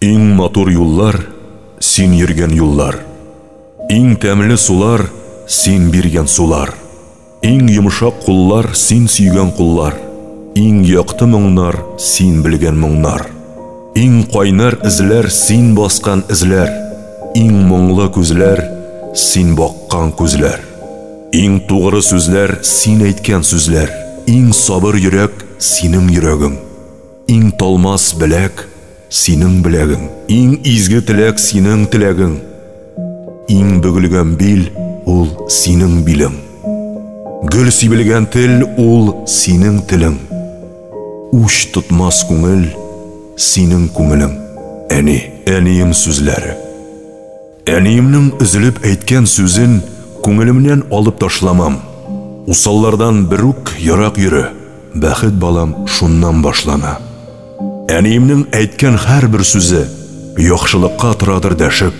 Иң матур юллар, син йөргән юллар, Иң тәмле сулар, син биргән сулар, Иң йомшак куллар, син сөйгән куллар, Иң якты моңнар, син белгән моңнар, Иң кайнар эзләр, син баскан эзләр, Иң моңлы күзләр, син баккан күзләр, Иң тугры сүзләр, син әйткән сүзләр, Иң сабыр йөрәк, синең йөрәгең. Иң талмас беләк, синең беләгең. Иң изге теләк, синең теләгең. Иң бөгелгән бил, ул синең билең. Гөл сибелгән тел, ул синең телең. Уч тотмас күңел, синең күңелең. Әни, әнием сүзләре. Әниемнең өзелеп әйткән сүзен күңелемнән алып ташламам. Усаллардан бер үк ерак йөре, бәхет балам шуннан башлана. Әниемнең әйткән һәрбер сүзе яхшылыкка торадыр дәшеп.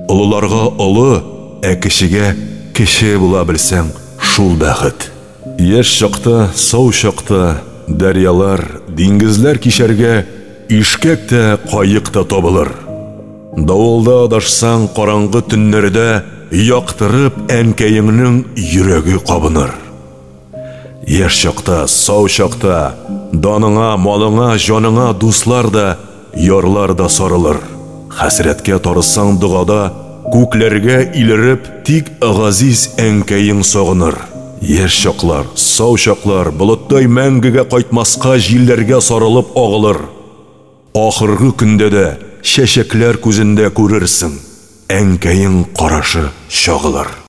Олыларга олы, ә кечегә кече була белсәң, шул бәхет. Яшь чакта, сау чакта, дәрьялар, диңгезләр кичәргә ишкәк тә, каек та табылыр. Давылда адашсаң, караңгы төннәрдә яктырып әнкәеңнең йөрәге кабыныр. Яшь чакта, сау чакта, даныңа, малыңа, җаныңа дуслар да, Ярлар да сарылыр. Хәсрәткә тарысаң догада, Күкләргә илереп, тик Газиз әнкәең сагыныр. Яшь чаклар, сау чаклар болыттай мәңгегә кайтмаска җилләргә сарылып агылыр. Ахыргы көндә дә чәчәкләр күзендә күрерсең, әнкәең карашы чагылыр.